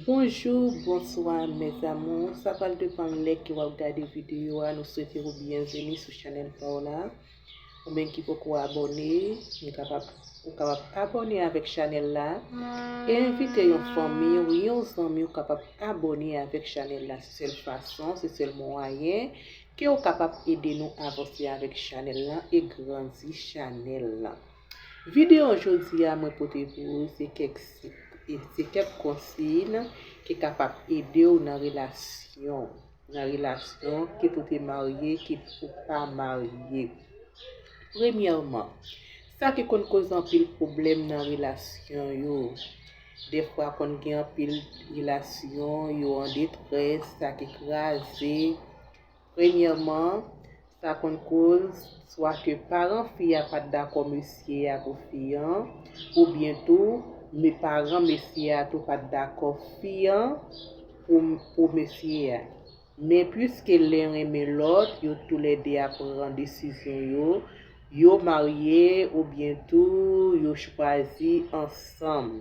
Bonjou bonswa mes amour sa pral depan lè ke wap gade video a nou swete ou byenveni sou chanèl pa w la ou menm ki poko abòne ou kapab ou kapab abòne avèk chanèl la e envite yon fanmi ou yon zanmi ou kapab abòne avèk chanèl la se sèl fason se sèl mwayen ke ou kapab ede nou avanse avèk chanèl la e grandi chanèl la Videyo jodi a mwen pote pou ou se kèk sit e se kèk konsiy ki kapab ede ou nan relasyon ou, nan relasyon kit ou te marye kit ou pa marye. Premyèman, sa ki konn koz anpil pwoblèm nan relasyon yo, defwa konn gen anpil relasyon yo an detrès, sa ki kraze, Premyèman, sa konn koz swa ke paran fi a pa t dakò mesye a pou fi an, oubyen tou me paran mesye a tou pa t dakò fi an pou pou mesye a. Men puiske len renmen lòt, yo toulède a pran desizyon yo, yo marye oubyen tou yo chwazi ansanm.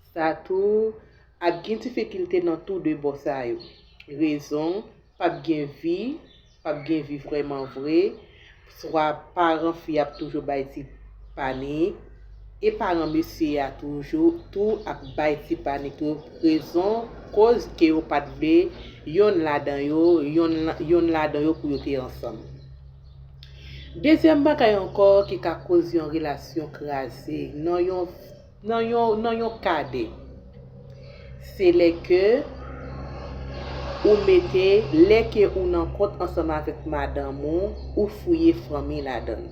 Sa tou, ap gen difikilte nan tou de bò sa yo. Rezon, Pap gen vi, pap gen vi vrèman vre, swa paran fi a ap toujou bay ti panik, e paran mesye a toujou tou ap bay ti panik tou, rezon koz ke yo pat vle yonn ladan yo, yonn ladan yo pou yo te ansanm. Dezyèm bagay ankò ki ka koz yon relasyon kraze nan yon. Nan yon nan yon kade. Se lè ke ou mete lè ke ou nan kont ansanm avèk madanm ou, ou fouye fanmi ladann.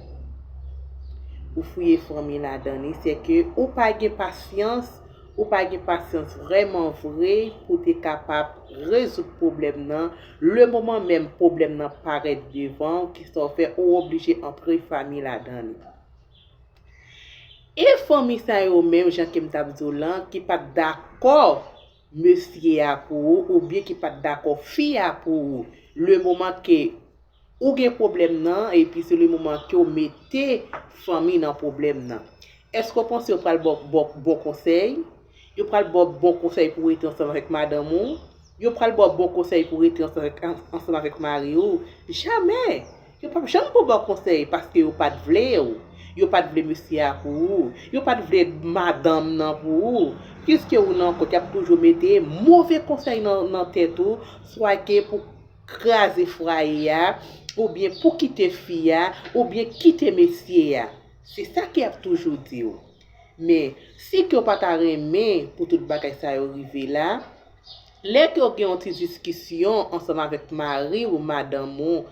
Ou fouye fanmi ladann li se ke ou pa gen pasyans, ou pa gen pasyans vrèman vre pou te kapab rezoud pwoblèm nan, le moman menm pwoblèm nan parèt devan ou ki sa ou fè ou oblije antre fanmi ladann li. E fanmi sa yo menm jan kem tap diw lan ki pat dakò mesye a pou ou ou byen ki pat dakò fi a pou ou le moman ke ou gen pwoblèm nan epi se le moman kew mete fanmi nan pwoblèm nan eske ou panse yo pral baw bon konsèy yo pral baw bon konsèy pou rete ansanm avèk madanm ou Yo pral ba w bon konsèy pou rete ansanm avèk mari ou? Jamè! Yo pap janm pou w bon konsèy paske yo pat vle w. Yo pat vle mesye a pou ou. Yo pat vle madanm nan pou ou. Piske ou nan kont, y ap toujou mete move konsèy nan tèt ou, swa ke pou kraze fwaye a, oubyen pou kite fi a, oubyen kite mesye a. Se sa ke y ap toujou di w. Men, si kè w pa ta renmen pou tout bagay sa yo rive la, lè kè w gen yon ti diskisyon ansanm avèk mari ou madanm ou,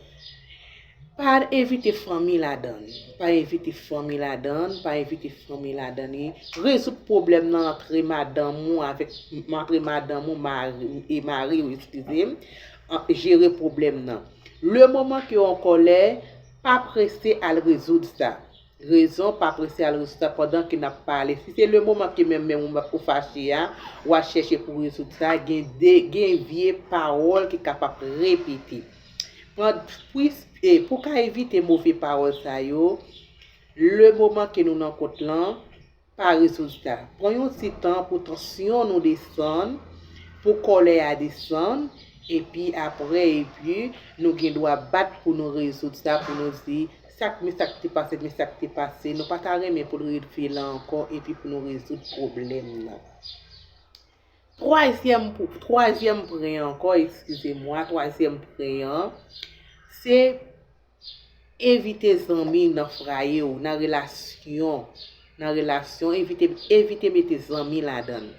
pa envite fanmi ladan li, pa envite fanmi ladan l, pa envite fanmi ladan li, rezoud pwoblèm nan antre madanm ou avèk, antre madanm ou e mari ou, eskize m, jere pwoblèm nan. Lemoman kè w an kòlè, pa prese al rezoud sa. Rezon pa prese al rejistra pandan ke nap pale si se le moman ke menm menm ou fache a wa chèche pou rezoud sa gen de gen vye pawòl ki ka pap repete pan pwis e pou ka evite move pawòl sa yo le moman ke nou nan kont lan Pa rezilta. Pran yon ti tan pou tansyon nou desann, pou kòlè a desann, epi apre epi nou gen dwa bat pou nou rezoud sa pou nou di, sa k men sa k te pase men sa k te pase, nou pa ta renmen pou l rerive la ankò epi pou nou rezoud pwoblèm nan. Twazyèm pou twazyèm pwen ankò, eskize mwa, twazyèm pwen an, se Evite zanmi nan fraye w, nan relasyon, nan relasyon, evite, evite mete zanmi ladan l.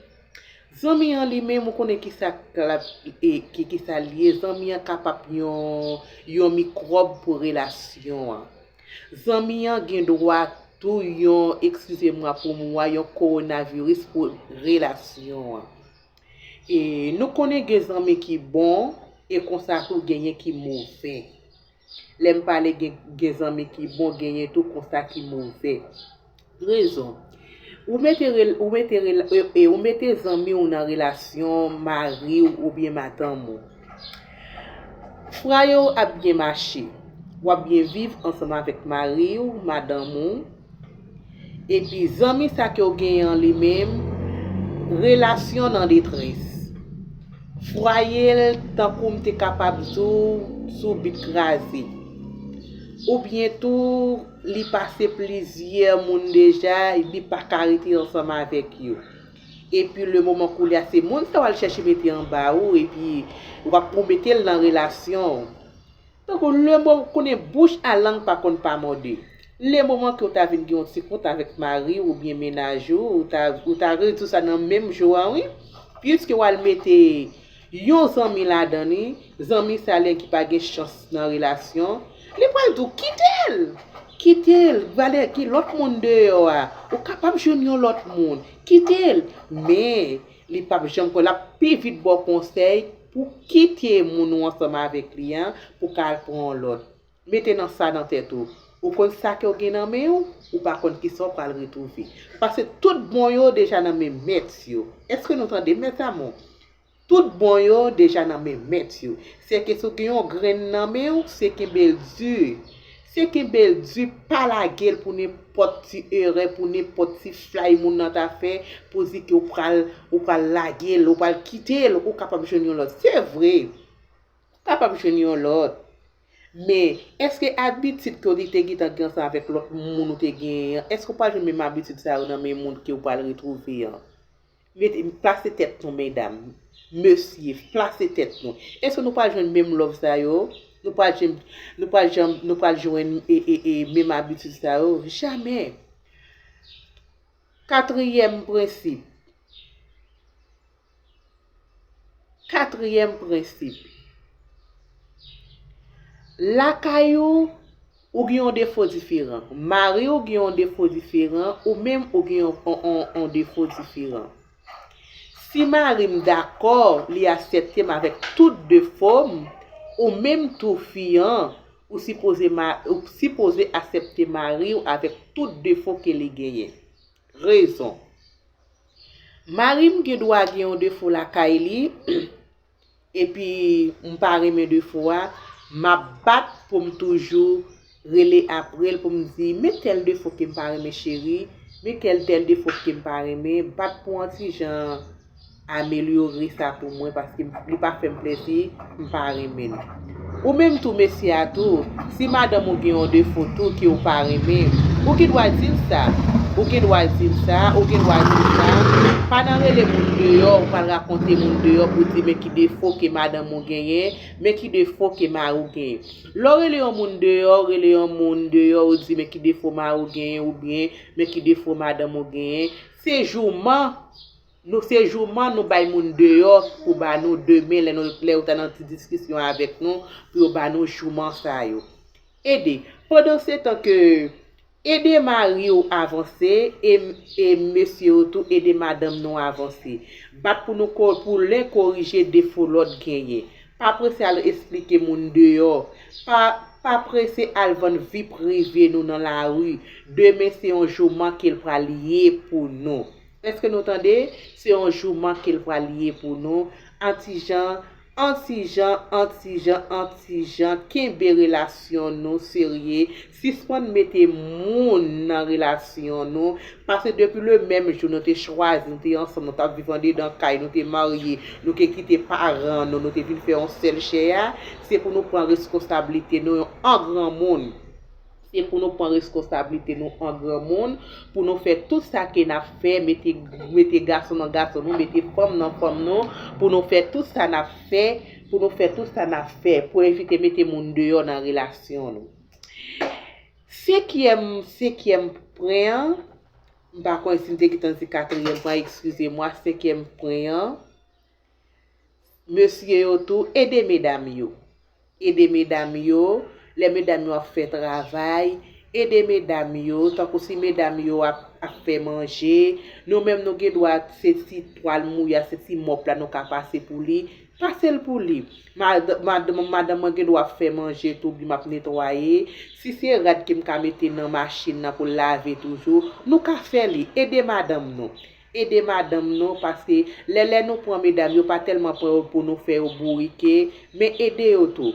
Zanmi an li menm ou konnen kisa k lap e ki kisa l ye, zanmi an ka pap yon, yon mikwòb pou relasyon an. Zanmi an gen dwa tou yon, ekskize mwa pou mwa, yon kowonaviris pou relasyon an. E nou konnen gen zanmi ki bon e konsa tou genyen ki move. Lè m pale gen gen zanmi ki bon genyen tou konsa ki move. Rezon, Ou mete rela ou mete rela e ou mete zanmi w nan relasyon mari w oubyen madanm ou. Fraye w ap byen mache. W ap byen viv ansanm avèk mari w, madanm ou. Epi zanmi sa ke w genyen an li menm, relasyon nan detrès. Fwaye l tankou m te kapab di w sou bit kraze. Oubyen tou li pase plizyè moun deja li pa ka rete ansanm avèk yo. Epi le moman koulye a se moun sa w al chèche mete anba ou epi w ap pou w mete l nan relasyon w. Tankou le mo ou konnen bouch a lang pa konn pa mòde. Le moman ke ou ta vin gen yon ti kont avèk mari w oubyen mennaj ou, ou ta ou ta rezoud sa nan menm jou an wi. Puiske w al mete yon zanmi ladan li, zanmi sa len ki pa gen chans nan relasyon, li pral di w kite l! Kite l! Gade gen lòt moun deyò a, ou kapab jwenn yon lòt moun. Kite l! Men, li pap janm konn, l ap pi vit ba w konsèy, Pou kite moun ou ansanm avèk li an pou ka al pran yon lòt. Mete nan sa nan tèt ou. Ou konn sa kew gen nan menw, ou pa konn kisa ou pral retrouve. Pase tout bon yo deja nan men mèt yo. Eske nou tandem mes amour? Tout bon yo deja nan men mèt yo. Sèke si w gen yon grenn nan menw, se kenbel du. Se kenbel di pa lagel pou nenpòt ti erè pou nenpòt ti flay moun nan ta fè pou di ke ou pral ou pral lagel ou pral kitel ou kapab jwenn yon lòt se vre ou kapab jwenn yon lòt men eske abitid ke ou te te gentan gen ansanm avèk lòt moun ou te genyen an eske ou pral jwenn menm abitid sa yo nan men moun ke ou pral retwouve an. Mete, plase tèt nou medam, mesye, plase tèt nou. Èske nou pral jwenn menm love sa yo? Nou pral jwenn, nou pral janm, nou pral jwenn e, e, e menm abitid sa yo? Jamè! Katriyèm prensip. Katriyèm prensip. Lakay ou. Ou gen yon defo diferan. Mari w gen yon defo diferan, ou menm ou gen yon defo diferan. Si mari m dakò, li asepte m avèk tout defo m, ou menm tou fi an, ou sipoze asepte mari w avèk tout defo ke li genyen. Rezon. Mari m gen dwa gen yon defo lakay li, epi m pa renmen defo a, m ap bat pou m toujou rele apre l pou m di, men tèl defo ke m pa renmen cheri, men tèl tèl defo ke m pa renmen, bat pou an ti jan amelyore sa pou mwen paske li pa fè m plezi, m pa renmen l. Ou menm tou mesye a tou, si madanm ou gen yon defo tou ke ou pa renmen, ou gen dwa di l sa. Ou gen dwa di l sa, ou gen dwa di l sa. Pa nan rele moun deyò, ou pa al rakonte moun deyò pou di men ki defo ke madanm ou genyen, men ki defo ke mari w genyen. Lè w rele yon moun deyò, ou rele yon moun deyò ou di men ki defo mari w genyen oubyen men ki defo madanm ou genyen, se jouman! Nou se jouman nou bay moun deyò pou ba nou demen lè nou lè yo ta nan ti diskisyon avèk nou pou yo ba nou jouman sa yo. Ede, pandansetan ke ede mari w avanse e e mesye yo tou ede madanm nou avanse. Bat pou nou ko pou len korije defo lòt genyen. Pa prese al esplike moun deyò. Pa pa prese al vann vi prive nou nan lari. Demen se yon jouman ke l pral ye pou nou. Eske nou tande, se yon jouman kel pral ye pou nou, antijan, antijan, antijan, antijan kenbe relasyon nou serye, sispann mete moun nan relasyon nou, pase depi le menm jou nou te chwazi, nou te ansanm, nou tap viv andedan kay, nou te marye, nou te kite paran nou, nou te vin fè yon sèl chè a, se pou nou pran reskonsablite nou an granmoun. Se pou nou pran reskonsablite nou an granmoun, pou nou fè tout sa ke n ap fè, mete mete gason nan gason nou, mete fanm nan fanm nou, pou nou fè tout sa n ap fè, pou nou fè tout sa n ap fè, pou evite mete moun deyò nan relasyon nou. Senkyèm senkyèm pwen an, m pa konnen si m te gen tan di katriyèm pwen an, ekskize mwa, senkyèm pwen an, Mesye yo tou ede medam yo. Ede medam yo, lè medam yo ap fè travay, ede medam yo, tankou si medam yo ap ap fè manje, nou menm nou gen dwa se ti twal mouye a, se ti mòp la nou ka pase pou li, pase l pou li. Madanm mwen gen dwa ap fè manje tou oubyen m ap netwaye, si se rad ke m ka mete nan machin nan pou l lave toujou, nou ka fè li, ede madanm nou. Ede madanm nou paske lè lè nou pran medam yo pa tèlman pran yo pou nou fè yo bourike men ede yo tou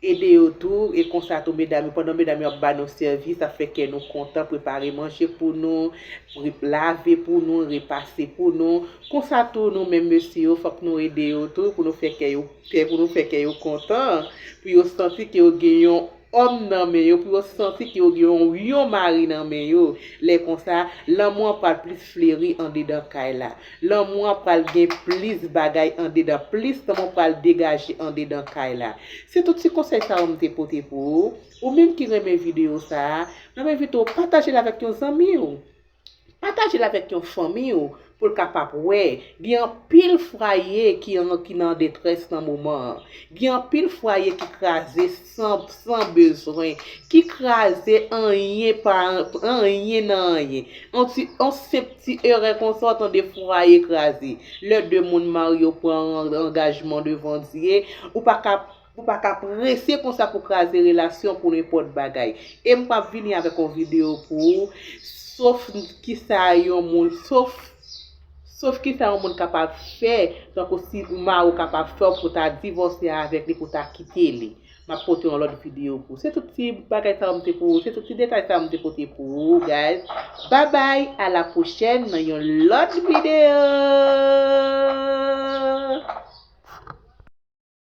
ede yo tou e konsa tou medam yo pandan medam yo ap ba nou sèvis ap fè kè nou kontan prepare manje pou nou lave pou nou repase pou nou konsa tou nou menm mesye yo fòk nou ede yo tou pou nou fè kè yo pou nou fè kè yo kontan pou yo santi ke yo gen yon. òm nan men yo pou yo santi ke yo gen yon yon mari nan men yo, lè konsa, lanmou an pral plis fleri andedan kay la. Lanmou an pral gen plis bagay andedan, plis lanmou pral degaje andedan kay la. Se tout ti konsèy sa yo m te pote pou ou. Ou menm ki renmen videyo sa a, m ap envite w pataje l avèk yon zanmi ou. Pataje l avèk yon fanmi ou pou l kapab wè. Gen anpil fraye ki nan detrès nan moman an. Gen anpil fwaye ki kraze san bezwen. Ki kraze anyen pa anyen nan anyen. Yon senp ti erè konsa w tande fwaye kraze. Lè 2 moun marye yo pran angajman devan Dye, ou pa ka Nou pa ka prese konsa pou kraze relasyon pou nenpòt bagay. E m pap vini avèk yon videyo pou ou sof kisa yon moun sof sof kisa yon moun kapab fè tankou si ou mari w kapab fè w pou w ta divòse avèk li pou w ta kite li. M ap pote yon lòt videyo pou ou. Se tout ti bagay sa yo m te pou ou se tout ti detay sa yo m te pote pou ou guys. Babay a la pwochèn nan yon lòt videyo.